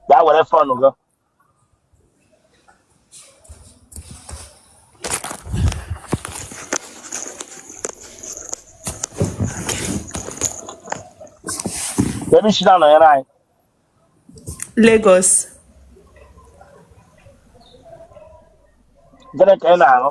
gaa were fon gị ebe i si na-anọnyere anyị Lagos gịnị ka ị na-arụ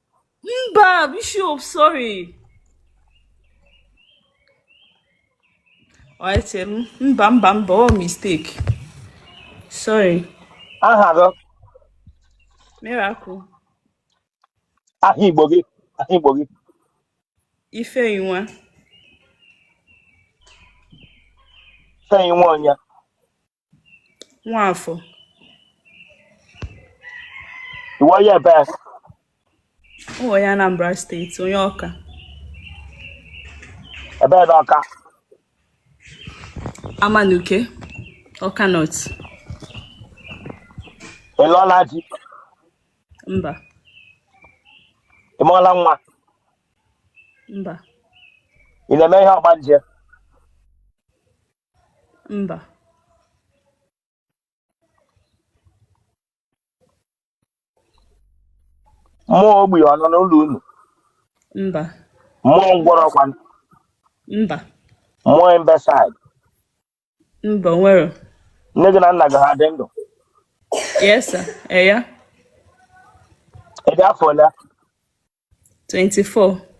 mba bishop sorry echere m mba mba mba ọ mistake sorry aha gị miracle aha igbo gị aha igbo gị ifeyinwa ifeyinwa onye Nwafọ. Ị wụ onye ebee? Ọ onye Anambra steeti, onye Ọka. Ebe na Ọka? Amanuke, Ọka North. Ị lụọla di? Mba. Ị mụọla nwa? Mba. Ị na-eme ihe ọgbanje? mba mmụọ ogbi ọ nọ n'ụlọ unu mba mmụọ ngwọrọ kwanụ mba mmụọ imbecile mba o nwere nne gị na nna gị ha dị ndụ yes sir eya ị dị afọ ole 24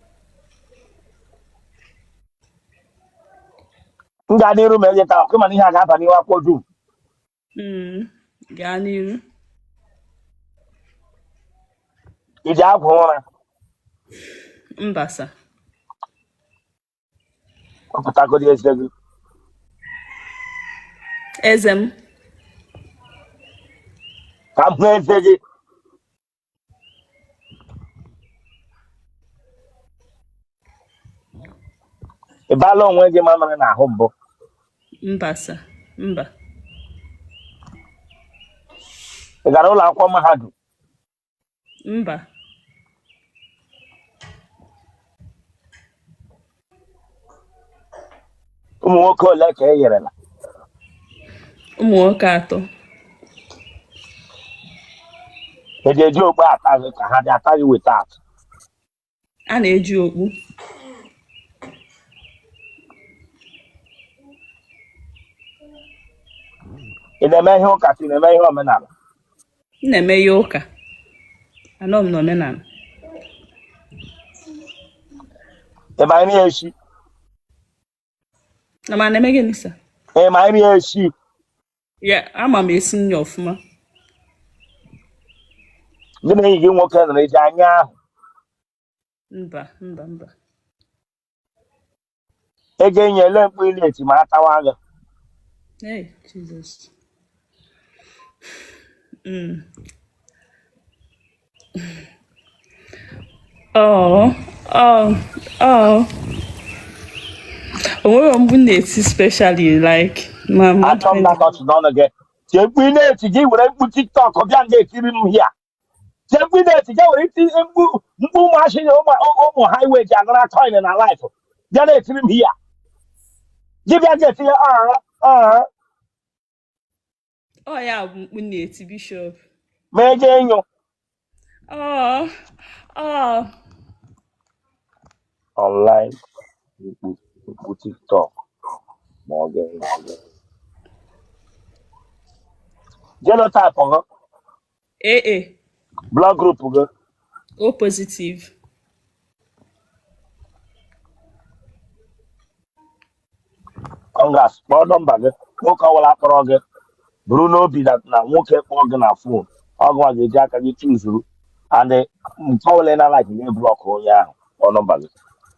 m gaa n'iru ma eleta akụ mana ihe a ga-aba n'ihu akwụkwọ dum mm, gaa n'iru i ji agwọ ụra mba sa wepụtagodi eze gị eze m ka m hụ eze gị ị baala onwe gị mamịrị n'ahụ mbụ mba sa mba ị gara ụlọ akwụkwọ mahadum mba ụmụ nwoke ole ka i nyerela ụmụ nwoke atọ e ji eji okpu ata gị ka ha dị ata gị weta atụ a na-eji okpu ị na-eme ihe ụka ka ị na-eme ihe omenala m na-eme ihe ụka anọ m n'omenala ị ma nri esi na m na-eme gịnị sa ị ma nri esi ya ama m esi nri ọfụma gị na enyi gị nwoke nọrọ eji anya ahụ mba mba mba ego enyi ele mkpu ị na-eti ma atawa gị hey jesus mm. oh oh oh o nwere mgbe na-eti specially like ma achọ m na-akọchị n'ọnụ gị tie mkpu ị na-eti gị were mkpu tiktok bịa na-etiri m hia tie mkpu ị na-eti je were iti mkpu mkpu ụmụazị a ụmụ ụmụ highway ji anara coin na live bịa na-etiri m hia dibịa ga-etinye aha aha ọ ya bụ mkpu na-eti bishọp ma eje enyo ọ ọ online mkpu mkpu tiktok ma ọ ga-enyo genotype ha ee e. blood group gị O positive congrats kpọọ nọmba gị nwoke ọbụla akpọrọ gị buru n'obi na na nwoke kpọọ gị na fon ọ gịnwa ga-eji aka gị chuzuru and nke ọbụla ị na-alaịkịghị gị blọk onye ahụ kpọọ nọmba gị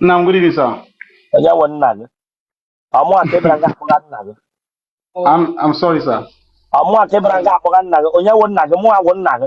nna good evening sir onye wụ nna gị ọ mụwa ka ị bara nga akpọga nna gị I'm, I'm sorry, sir. Ọ mụwa ka ị bara nga akpọga nna gị onye wụ nna gị mụwa wụ nna gị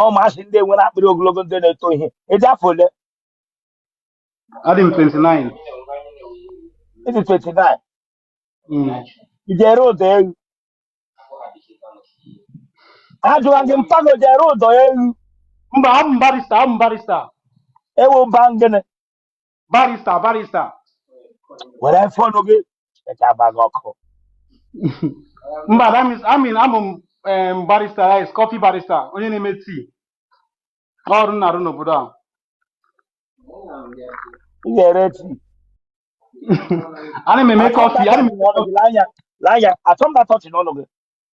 ụmụazị ndị nwere akpịrị ogologo ndị na-eto ihe ị dị afọ ole adị m 29 ị dị 29 Mm. ị ji ere ụdọ ewu ajụwa gị mpa gị o ji ere ụdọ ewu mba abụ m barista abụ m barista ewu ba gịnị barista barista were fọnụ gị echa gba gị ọkụ mba that means I mean abụ m em, barista like coffee barista onye na-eme tii ọrụ m na-arụ n'obodo a ị ga-ere tii ana m eme kọfị ana m eme kọfị anya anya atọ mba tọchị n'ọnụ gị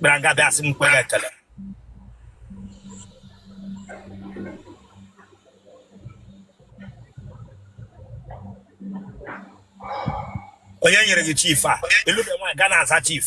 bịara nga bịa asị m kwere ekele onye nyere gị chief a ị lụbe nwaanyị ga na-aza chief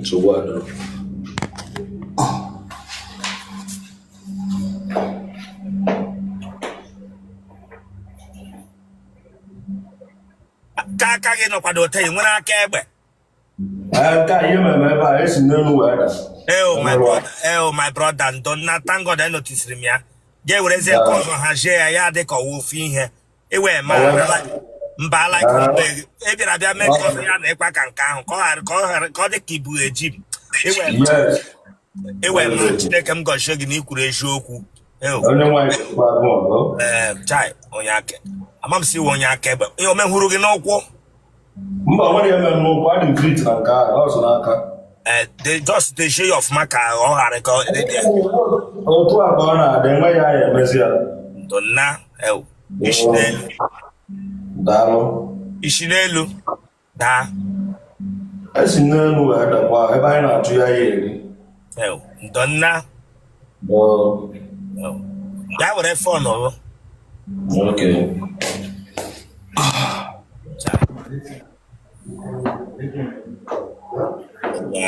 nsogbu adịrọ ka aka gị nọkwado ote ị nwere aka egbe Aka ihe mere ebe a esi n'elu wee daa. Eo oh, my brother, eo oh, my brother, ndo nna thank God e noticiri m ya. Ga-ewerezi nke ọzọ hazie ya ya dị ka ọ wụ ofu ihe. iwe ma mba ala e bịara bịa mezie ya na ịkwa ka nke ahụ ka ọ dị ka ibu eji m iwe ma chineke m gọzie gị na i kwuru eziokwu chai onye aka ama m si iwe onye aka egbe ihe o mehụrụ gị n'ụkwụ mba o nwerọ ihe mere n'ụkwụ adị m fit na nke ahụ ọ zụrụ aka eh, they just dey show you ọfụma ka ọ ghara ka ọ dị dị otu a ka ọ na-adị enwe ya ya emezi ya ndo nna ewo i si n'elu daa i si n'elu daa esi n'elu wee dakwa ebe anyị na-achụ ihe a ya-eri ewo ndo nna ya were fon ọrụ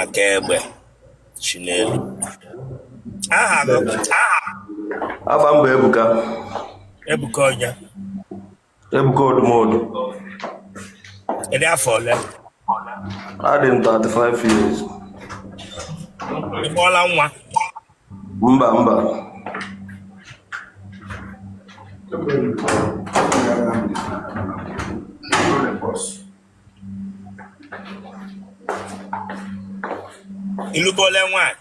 aka egbe si n'elu aha aha Afa m bụ Ebuka. Ebuka onye? Ebuka Odumodu. Ị dị afọ ole? Adị m 35 years. Ị mụọla nwa? Mba mba. Ị lụbele nwaanyị?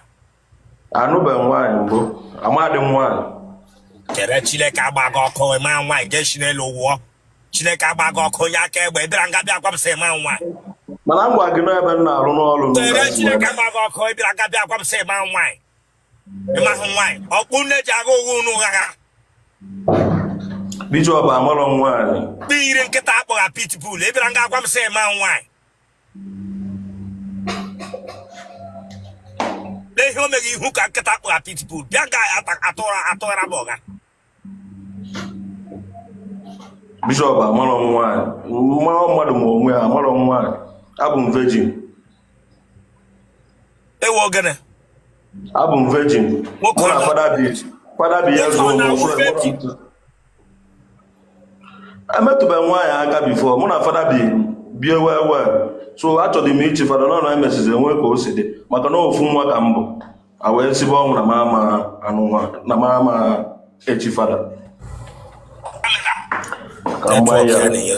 anụbeghị nwaanyị mbụ amadị nwaanyị kere chineke agba gị ọkụ ma nwaanyị ga-esi n'elu wụọ chineke agba gị ọkụ onye aka egbe bịara nga bịa gwa m sị ma nwaanyị mana m gwa gị n'ebe m na-arụ ọrụ m kere chineke agba gị ọkụ ị bịara nga bịa gwa m sị ma nwaanyị ị mahụ nwaanyị ọkpụ nne ji agha ụgha unu ghagha bishọp amarọ nwaanyị kpe ire nkịta a kpọgha pitbull ị bịara nga gwa m sị ma nwaanyị n'ihe o meghị ihu ka nkịta kpụ apitipu bịa ga atụra atụghara m ọga bishọp amarọ m nwaanyị mmarọ mmadụ ma onwe ya amarọ m nwaanyị abụ m vejin ewu ogene abụ m vejin mụ na fada bi fada bịa zụọ m ofu emetụbeghị m nwaanyị aka before mụ na fada bi bie wee wee so achọbu m ichi fada nọ na emesịzi enwee ka o si dị maka na ofu nwa ka m bụ a wee sibe ọnwụ na mụnwa na mụ ama echi fada ka m gbaa ya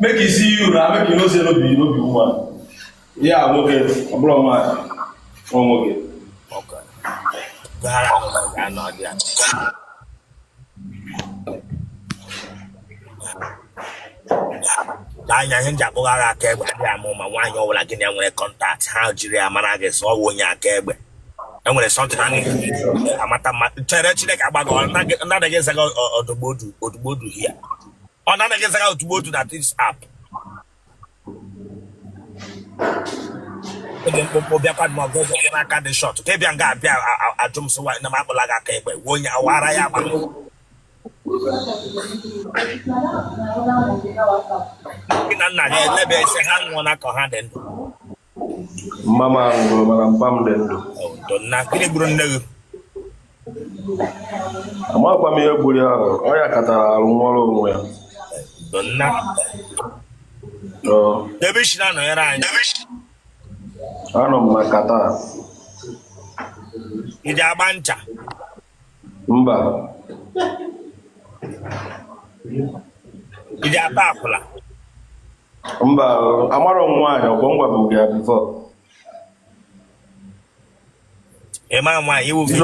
make you see you na make you know say no be no be woman ya nwoke ọ bụrụ nwaanyị ọ nwoke n'anya ihe m ji akpụghara aka egbe adịghị ama ama nwaanyị ọbụla gị na nwere contact ha jiri ya mara gị sọ onye aka egbe enwere something na amata mma chere chineke agbaghị ọ naghị ezaga odogbodu odogbodu ya ọ na-anaghị ezaga odogbodu na tips app oge mkpụmkpụ bịakwa ma ọgụ ụzọ gị n'aka dị short ka ịbịa nga abịa ajụ m sịwa na m akpụla gị aka egbe wuo onye awara ya agba nne na nna ya elebe ise ha anwụọna ka ha dị ndụ mma m nwụrụ mana mpa m dị ndụ na gịnị gburu nne gị amakwa m ihe gburu ya ahụ ọ yakatara arụ nwụọrọ onwe ya nna Ọ, ebe i si na-anọnyere anyị anọ m na Qatar ị ji agba ncha mba ị ga-ata akwụla mba amarọ m nwaanyị ọgbọ ngwa bụ gị before ị ma nwaanyị iwu gị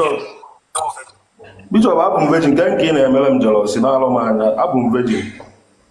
bishọp abụ m vejin nke nke ị na-emere m jealousy na-alọ m anya abụ m vejin